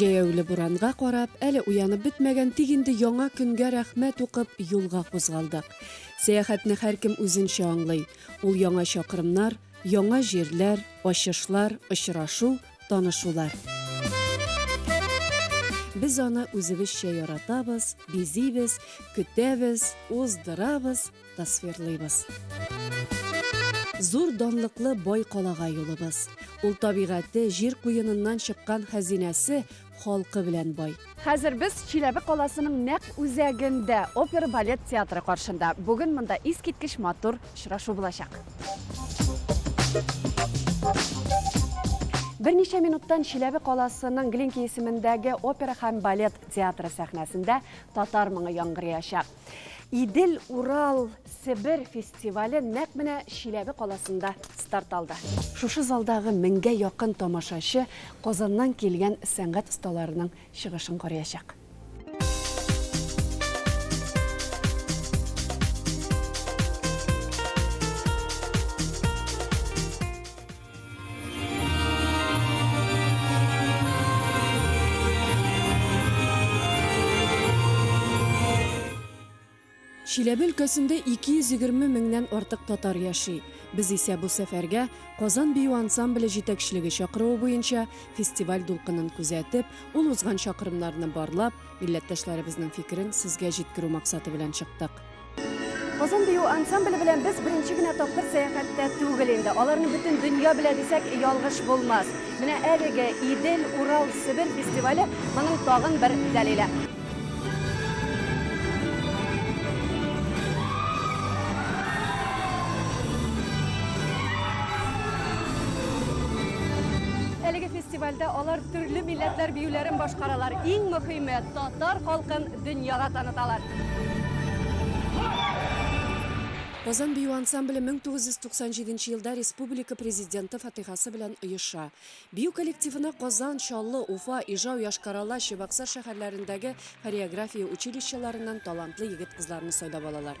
Җәяүле буранга карап, әле уянып бетмәгән, тик инде яңа көнгә рәхмәт укып, юлга кузгалдык. Сәяхәтне һәркем үзенчә аңлый. Ул яңа чакрымнар, яңа җирләр, ачышлар, очрашу, танышулар. Без аны үзебезчә яратабыз, бизибез, көтәбез, уздырабыз, Тасвирлыйбыз. Зур данлыклы бай калага юлыбыз. Ул табигате, җир куеныннан чыккан хәзинәсе халкы белән бай. Хәзер без Чиләбе каласының нәкъ үзәгендә, опера-балет театры каршында. Бүген монда искиткеч матур очрашу булачак. Берничә минуттан Чиләбе каласының Глинки исемендәге опера һәм балет театры сәхнәсендә татар моңы яңгыраячак. Идел, Урал, Себер фестивале нәкъ менә Чиләбе каласында старт алды. Шушы залдагы меңгә якын тамашачы Казаннан килгән сәнгать осталарының чыгышын карыячак. Чиләбе өлкәсендә 220 меңнән артык татар яши. Без исә бу сәфәргә, Казан бию ансамбле җитәкчелеге чакыруы буенча, фестиваль дулкынын күзәтеп, ул узган чакрымнарны барлап, милләттәшләребезнең фикерен сезгә җиткерү максаты белән чыктык. Озын бию ансамбле белән без беренче генә тапкыр сәяхәттә түгел инде. Аларны бөтен дөнья белә дисәк, ялгыш булмас. Менә әлеге Идел, Урал, Себер фестивале моның тагын бер дәлиле. Әлеге фестивальдә алар төрле милләтләр биюләрен башкаралар. Иң мөхиме, татар халкын дөньяга таныталар. Казан бию ансамбле 1997 елда республика Президенты фатыйгасы белән оеша. Бию коллективына Казан, Чаллы, Уфа, Ижау, Йошкар-Ола, Чебоксар шәһәрләрендәге хореография училищеларыннан талантлы егет-кызларны сайлап алалар.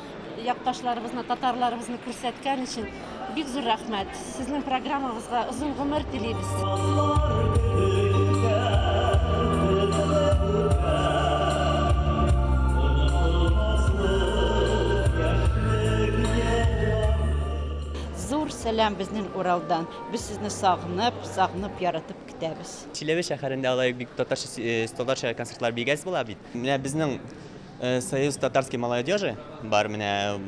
якташларыбызны, татарларыбызны күрсәткән өчен бик зур рәхмәт. Сезнең программагызга озын гомер Зур сәлам безнең Уралдан. Без сезне сагынып, сагынып яратып көтәбез. Чиләбе шәһәрендә алай бик татарча, э, татарча концертлар бигәс була бит. Менә безнең Союз татарской малой одежи бар менә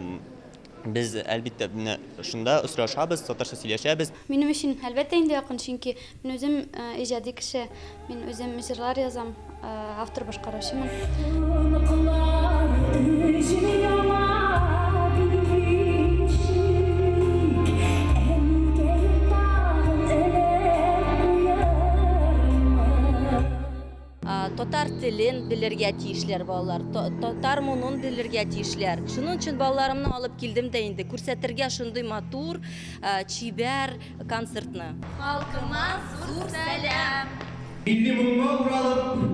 без әлбиттә менә шунда очрашабыз татарча сөйләшәбез. Минем өчен әлбәттә инде якын, чөнки мин үзем иҗади кеше, мин үзем җырлар язам, автор башкаручымын. Татар телен белергә тиешләр балалар, татар мунун белергә тиешләр. Шуның өчен балаларымны алып килдем дә инде күрсәтергә шундый матур, чибәр концертны. Халкыма зур сәлам! Милли моңга уралып,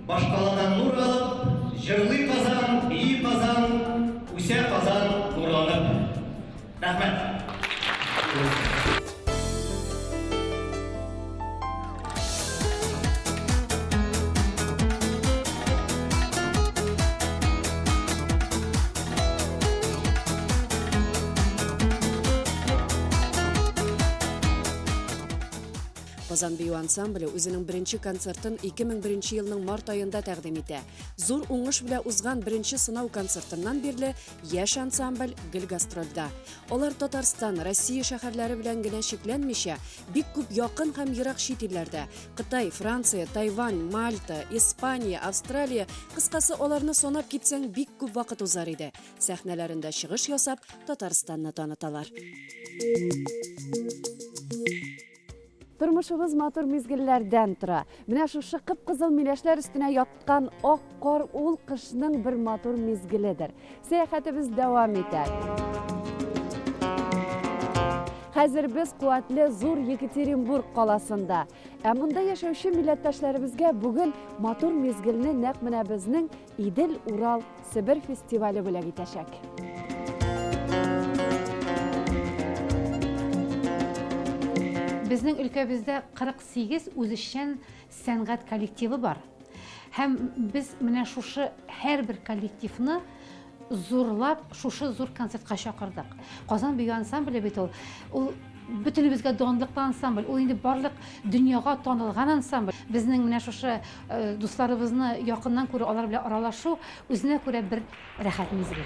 башкалада нур алып, Җырлый Казан, бии Казан, Үсә Казан нурланып. Казан бию ансамбле үзенең беренче концертын 2001 елның март аенда тәкъдим итә. Зур уңыш белән узган беренче сынау концертыннан бирле Яшь ансамбль гел гастрольдә. Алар Татарстан, Россия шәһәрләре белән генә чикләнмичә, бик күп якын һәм ерак чит илләрдә, Кытай, Франция, Тайвань, Мальта, Испания, Австралия, кыскасы, аларны санап китсәң, бик күп вакыт узар иде. Сәхнәләрендә чыгыш ясап, Татарстанны таныталар. Тормышыбыз матур мизгелләрдән тора. Менә шушы кып-кызыл миләшләр өстенә яткан ак кар ул кышның бер матур мизгеледер. Сәяхәтебез дәвам итә. Хәзер без куәтле зур Екатеринбург каласында. Ә монда яшәүче милләттәшләребезгә бүген матур мизгелне нәкъ менә безнең Идел, Урал, Себер фестивале бүләк итәчәк. Безнең өлкәбездә 48 үзешчән сәнгать коллективы бар. Һәм без менә шушы һәрбер коллективны зурлап, шушы зур концертка чакырдык. Казан бию ансамбле бит ул. Ул бөтенебезгә данлыклы ансамбль. Ул инде барлык дөньяга танылган ансамбль. Безнең менә шушы Дусларыбызны якыннан күрү, алар белән аралашу үзенә күрә бер рәхәт мизгел.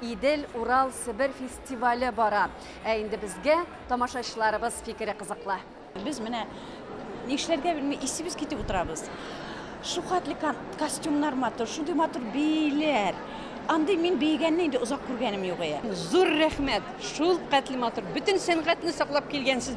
Идел, Урал, Себер фестивале бара. Ә инде безгә тамашачыларыбыз фикере кызыклы. Без менә нишләргә белми исебез китеп утырабыз. Шухатлы костюмнар матур, шундый матур бииләр. Андый мин биегәнне инде озак күргәнем юк. Зур рәхмәт, шул катлы матур, бөтен сәнгатьне саклап килгәнсез.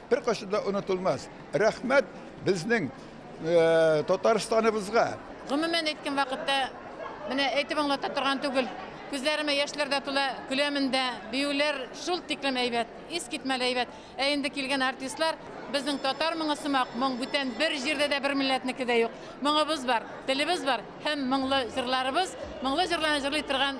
Беркайчан да онытылмас. Рәхмәт безнең Татарстаныбызга! Гомумән әйткән вакытта, менә әйтеп аңлата торган түгел. Күзләремә яшьләр дә тула, көләмен дә. Биюләр шул тиклем әйбәт, искитмәле әйбәт. Ә инде килгән артистлар, безнең татар моңы сымак моң бүтән бер җирдә дә, бер милләтнеке дә юк. Моңыбыз бар, телебез бар һәм моңлы җырларыбыз, моңлы җырларны җырлый торган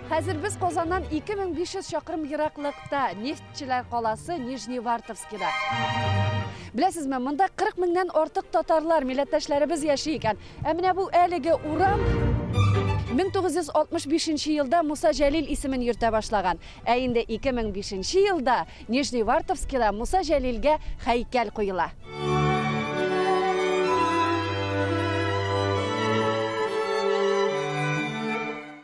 Хәзер без Казаннан 2500 чакрым ераклыкта, нефтьчеләр каласы Нижневартовскида. Беләсезме, монда 40 меңнән артык татарлар, милләттәшләребез яши икән. Ә менә бу әлеге урам 1965 елда Муса Җәлил исемен йөртә башлаган. Ә инде 2005 елда Нижневартовскида Муса Җәлилгә һәйкәл куела.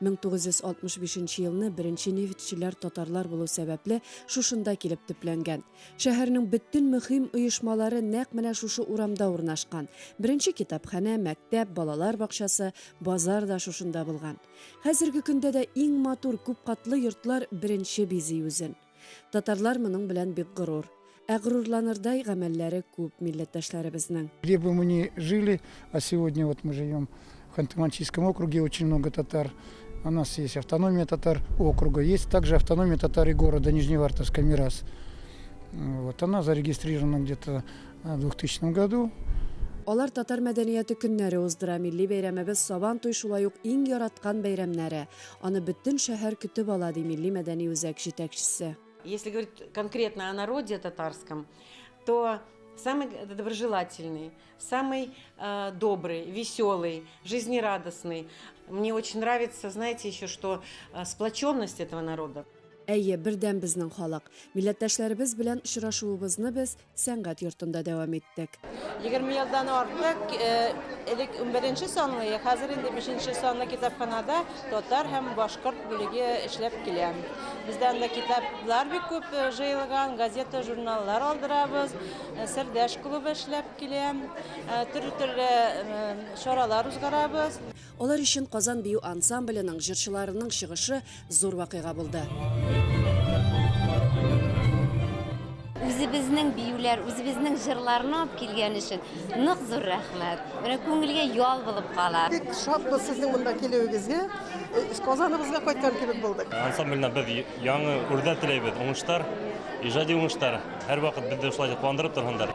1965 нче елны беренче нефтьчеләр татарлар булу сәбәпле шушында килеп төпләнгән. Шәһәрнең бөтен мөһим оешмалары нәкъ менә шушы урамда урнашкан. Беренче китапханә, мәктәп, балалар бакчасы, базар да шушында булган. Хәзерге көндә дә иң матур күпкатлы йортлар беренче бизи үзен. Татарлар моның белән бик горур. Ә горурланырдай гамәлләре күп милләттәшләребезнең. Где бы мы ни жили, а сегодня вот мы живем в Ханты-Мансийском округе, очень много татар. У нас есть автономия татар округа, есть также автономия татар и города Нижневартовска, Мирас. Вот она зарегистрирована где-то э, в 2000 году. Алар татар мәдәнияты көннәре уздыра, милли бәйрәмебез Сабан туй шулай ук иң яраткан бәйрәмнәре. Аны бөтен шәһәр көтеп ала, ди милли-мәдәни үзәк җитәкчесе. Если говорить конкретно о народе татарском, то самый доброжелательный, самый э, добрый, веселый, жизнерадостный. Мне очень нравится, знаете, еще что э, сплоченность этого народа. Әйе, бердәм безнең халык. Милләттәшләребез белән очрашуыбызны без сәнгать йортында дәвам иттек. 20 елдан артык элек 11 санлы, хәзер инде 5 санлы китапханада татар һәм башкорт бүлеге эшләп килә. Бездә анда китаплар бик күп җыелган, газета, журналлар алдырабыз, Сердәш клубы эшләп килә, төрле-төрле чаралар узгарабыз. Алар өчен Казан бию ансамбленең җырчыларының чыгышы зур вакыйга булды. Үзебезнең биюләр, үзебезнең җырларны алып килгән өчен нык зур рәхмәт. Менә күңелгә ял булып кала. Бик шатбыз сезнең монда килүегезгә. Э, Казаныбызга кайткан кебек булдык. Ансамбльне без яңы үрдә теләйбез. Уңыштар, иҗади уңыштар. Һәрвакыт безне шулай куандырып торһындар.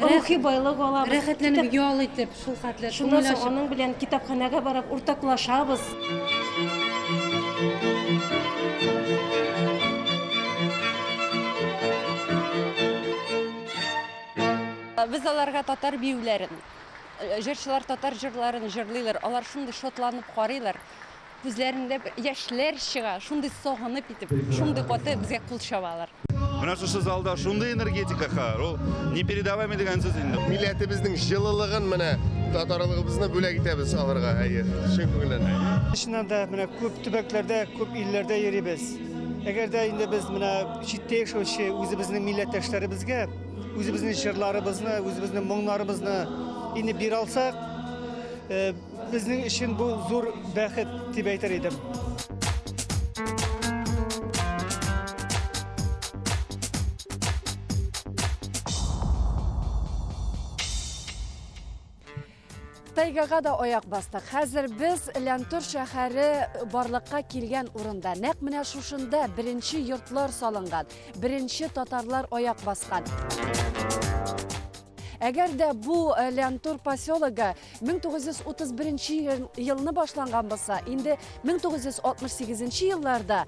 рухи байлык алабыз. Рәхәтләнеп ял итеп, шул хәтле Шуннан соң аның белән китапханәгә барып уртаклашабыз. Без аларга татар биюләрен, җырчылар татар җырларын җырлыйлар, алар шундый шатланып карыйлар. Күзләрендә бер яшьләр чыга, шундый сагынып итеп, шундый каты безгә кул чабалар. Менә шушы залда шундый энергетика хәер, ул непередаваемый дигән сүз инде. Милләтебезнең җылылыгын менә татарлыгыбызны бүләк итәбез аларга, әйе, чын күңелдән. Чыннан да, менә күп төбәкләрдә, күп илләрдә йөрибез. Әгәр дә инде без менә читтә яшәүче үзебезнең милләттәшләребезгә үзебезнең җырларыбызны, үзебезнең моңнарыбызны инде бирә алсак, Безнең өчен бу зур бәхет дип әйтер идем. Тайгага да аяк бастык. Хәзер без Ләнтур шәһәре барлыкка килгән урында. Нәкъ менә шушында беренче йортлар салынган, беренче татарлар аяк баскан. Әгәр дә бу э, Лянтур поселогы 1931 елны башланган булса, инде 1968 елларда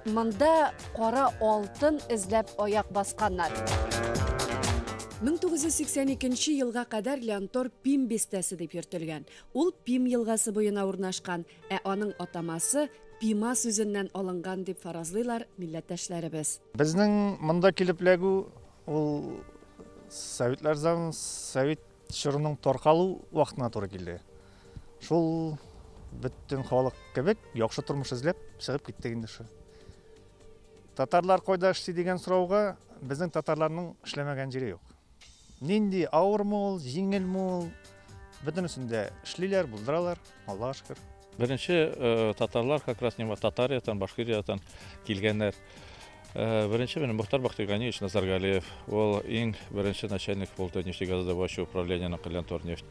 монда кара алтын эзләп аяк басканнар. 1982 елга кадәр Лянтор Пим бистәсе дип йөртелгән. Ул Пим елгасы буена урнашкан, ә аның атамасы Пима сүзеннән алынган дип фаразлыйлар милләттәшләребез. Безнең монда килеп эләгү ул Советлар заманы, Совет Чорның таркалу вакытына туры килде. Шул бөтен халык кебек яхшы тормыш эзләп чыгып киттек инде шул. Татарлар кайда эшли дигән сорауга безнең татарларның эшләмәгән җире юк. Нинди авырмы ул, җиңелме ул, бөтенесен дә эшлиләр, булдыралар, Аллага шөкер. Беренче татарлар как раз нема Татариядән, Башкириядән килгәннәр. Беренче менә Мөхтар Бахтиганиевич Назаргалиев. Ул иң беренче начальник булды нефтегазодобывающий управлениенең Лянтор нефть.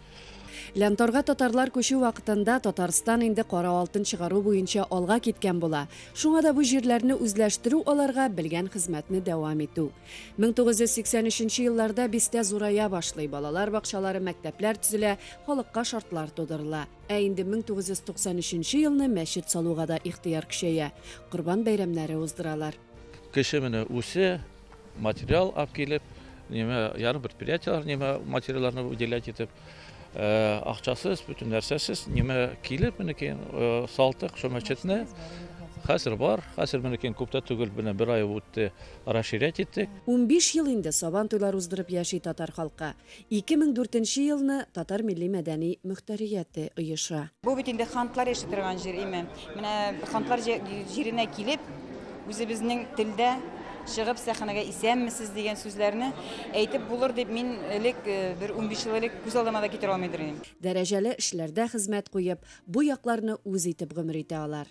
Лянторга татарлар күчү вакытында Татарстан инде кара алтын чыгару буенча алга киткән була. Шуңа да бу җирләрне үзләштерү аларга белгән хезмәтне дәвам итү. 1983 елларда бистә зурая башлый, балалар бакчалары, мәктәпләр төзелә, халыкка шартлар тудырыла. Ә инде 1993 елны мәчет салуга да ихтыяр көчәя, Корбан бәйрәмнәре уздыралар. Кеше менә үсә, материал алып килеп, неме, яны предприятиеләр неме материалларны выделять итеп, акчасыз, бөтен нәрсәсез неме килеп, минекен салтык шул мәчетне Хәзер бар, хәзер минекен күптә түгел, менә бер ай үтте, расширять иттек. Унбиш ел инде Сабан туйлар уздырып яши татар халкы. Ике мең дүртенче елны Татар милли-мәдәни мөхтәрияте оеша. Бу бит инде хантлар яши торган җир, име? Менә хантлар җиренә килеп, үзебезнең телдә чыгып сәхнәгә исәнмесез дигән сүзләрне әйтеп булыр дип мин элек бер унбиш ел элек күз алдыма да китерә алмыйдыр идем. Дәрәҗәле эшләрдә хезмәт куеп, бу якларны үз итеп гомер итә алар.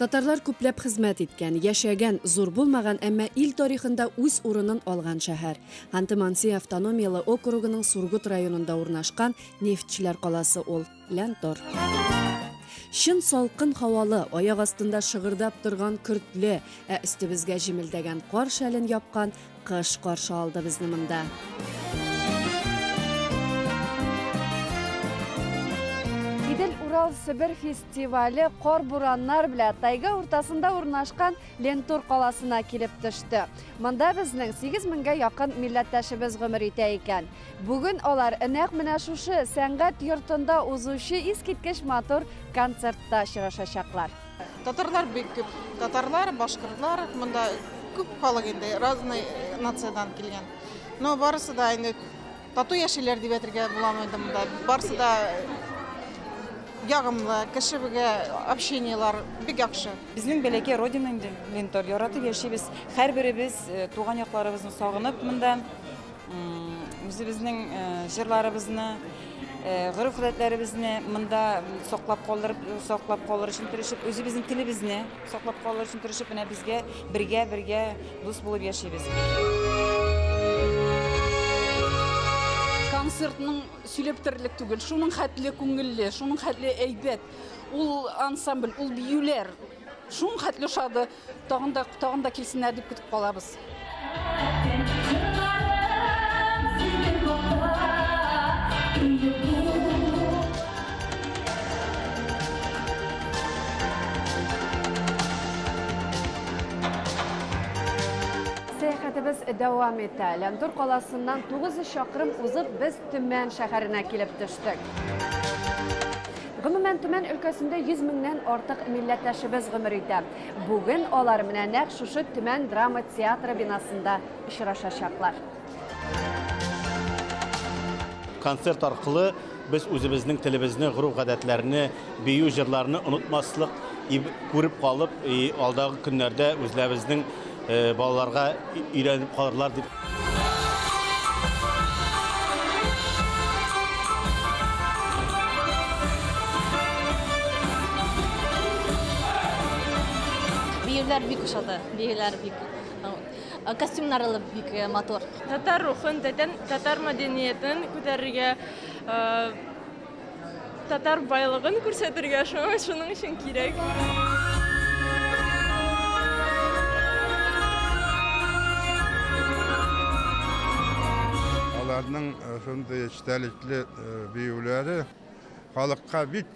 Татарлар күпләп хезмәт иткән, яшәгән, зур булмаган, әмма ил тарихында үз урынын алган шәһәр. Ханты-Манси автономияле округының Сургут районында урнашкан нефтьчеләр каласы ул, Ләнтор. Чын салкын һавалы, аяк астында шыгырдап торган көртле, ә өстебезгә җемелдәгән кар шәлен япкан Кыш каршы алды безне монда. Идел Урал Себер фестивале кар бураннар белән тайга уртасында урнашкан Лентур каласына килеп төште. Монда безнең 8 меңгә якын милләттәшебез гомер итә икән. Бүген алар нәкъ менә шушы сәнгать йортында узучы искиткеч матур концертта очрашачаклар. Татарлар бик күп. Татарлар, башкортлар, монда күп халык инде, разный нациядән килгән. Но барысы да инде тату яшиләр дип әйтергә буламы инде монда. Барысы да ягымлы, кешегә общениелар бик яхшы. Безнең бәләкәй родина инде, Лентор, яратып яшибез. Һәрберебез туган якларыбызны сагынып монда. Үзебезнең җырларыбызны, гореф-гадәтләребезне монда саклап калдырып, саклап калыр өчен тырышып, үзебезнең телебезне саклап калыр өчен тырышып, менә безгә бергә-бергә дус булып яшибез. Концертның сөйләп бетерерлек түгел, шуның хәтле күңелле, шуның хәтле әйбәт. Ул ансамбль, ул биюләр шуның хәтле ошады. Тагын да, тагын да килсеннәр дип көтеп калабыз. Сәяхәтебез дәвам итә. Ләндур каласыннан 900 чакрым узып, без Төмән шәһәренә килеп төштек. Гомумән, Төмән өлкәсендә 100 меңнән артык милләттәшебез гомер итә. Бүген алар менә нәкъ шушы Төмән драма театры бинасында очрашачаклар. Концерт аркылы без үзебезнең телебезне, гореф-гадәтләрне, бию-җырларны онытмаслык, и күреп калып, и алдагы көннәрдә үзләбезнең балаларга өйрәнеп калырлар дип. Биюләр бик ошады. Биюләр бик Э, костюмнар алып бик э, матур татар рухын татар мәдәниятен күтәрергә э, Татар байлыгын күрсәтергә шуңа шуның өчен кирәк. Аларның э, шундый эчтәлекле э, биюләре халыкка бик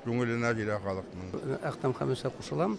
күңеленә килә халыкның. Әктәм Хәмисә кушылам.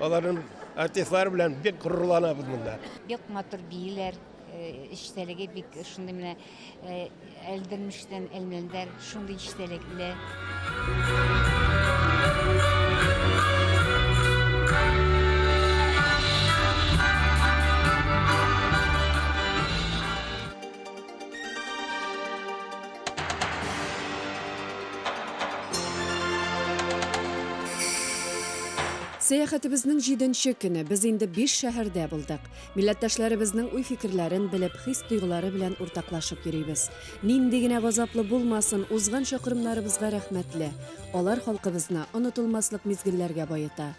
Аларның артистлары белән бик горурланабыз монда. Бик матур бииләр, эчтәлеге э, бик шундый менә э, әлдермештән әлмәлдәр, шундый эчтәлекле. Сәяхәтебезнең җиденче көне без инде биш шәһәрдә булдык. Милләттәшләребезнең уй-фикерләрен белеп, хис-тойгылары белән уртаклашып йөрибез. Нинди генә газаплы булмасын, узган чакрымнарыбызга рәхмәтле. Алар халкыбызны онытылмаслык мизгелләргә баета.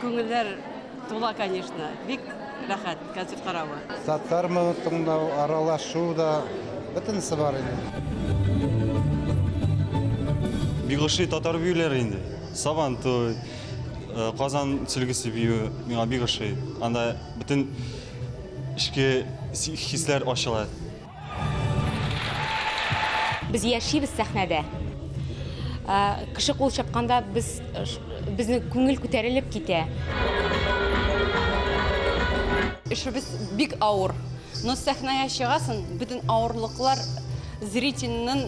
Күңелләр тула, конечно. Бик рәхәт концерт каравы. Татар моны тыңлау, аралашу да, бөтенесе бар инде. Бик ошый татар биюләре инде. Сабантуй, э, Казан сөлгесе бию миңа бик ошый. Анда бөтен эчке хисләр ачыла. Без яшибез сәхнәдә. Кеше кул чапканда без безнең күңел күтәрелеп китә. Эшебез бик авыр. Но сәхнәгә чыгасын, бөтен авырлыклар зрительнын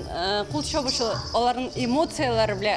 кул чабышы, аларның эмоцияләре белә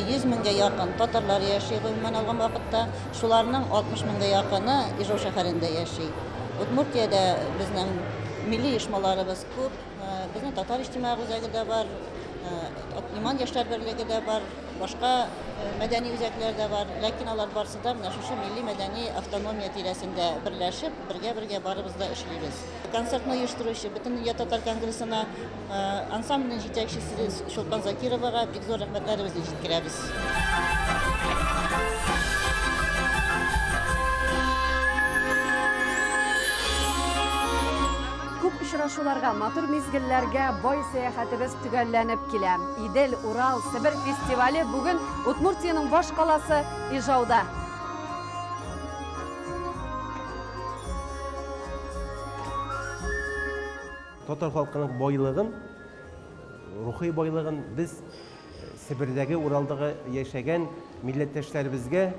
100 меңгә якын татарлар яши, гомумән алган вакытта. Шуларның 60 меңгә якыны Ижау шәһәрендә яши. Удмуртиядә безнең милли оешмаларыбыз күп. Безнең татар иҗтимагый үзәге дә бар, Иман яшьләр берлеге дә бар, башка мәдәни үзәкләр дә бар. Ләкин алар барсы да менә шушы милли-мәдәни автономия тирәсендә берләшеп, бергә-бергә барыбыз да эшлибез. Концертны оештыручы Бөтендөнья татар конгрессына Ансамбльнең җитәкчесе Чулпан Закировага бик зур рәхмәтләребезне җиткерәбез. Күп очрашуларга, матур мизгелләргә бай сәяхәтебез төгәлләнеп килә. Идел, Урал, Себер фестивале бүген Удмуртиянең баш каласы Ижауда. Татар халкының байлыгын, рухи байлыгын без Себердәге, Уралдагы яшәгән милләттәшләребезгә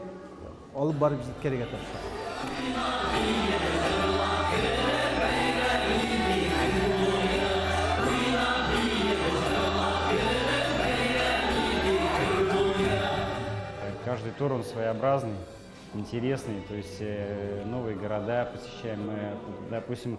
алып барып җиткерергә тырышабыз. Каждый тур он своеобразный, интересный, то есть э, новые города посещаем, мы, допустим,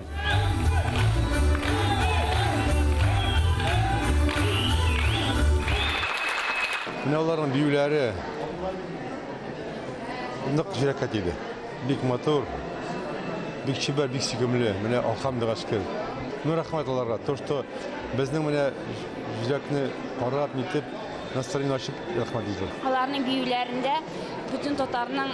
Менә аларның биюләре нык җөрәккә тиде. Бик матур, бик чибәр, бик сөйкемле. Менә алхамдыга шөкер. Ну, рәхмәт аларга. То, что безнең менә җөрәкне карап, нитеп, настроение ачып, рәхмәт безгә. Аларның биюләрендә бөтен татарның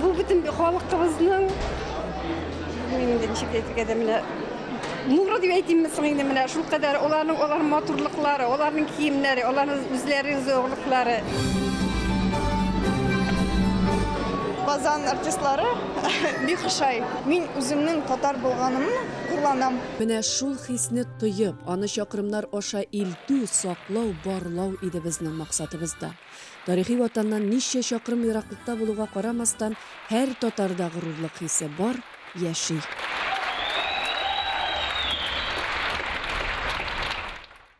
Бу бөтен халыкыбызның инде ничек әйтергә дә менә нуры дип әйтимме соң инде менә шул кадәр аларның алар матурлыклары, аларның киемнәре, аларның үзләренең зәвыклары. Казан артистлары бик ошай. Мин үземнең татар булганымны горланам. Менә шул хисне тоеп, аны чакрымнар аша илтү, саклау, барлау иде безнең максатыбыз да. Тарихи Ватаннан ничә чакрым ераклыкта булуга карамастан, һәр татарда горурлык хисе бар, яши.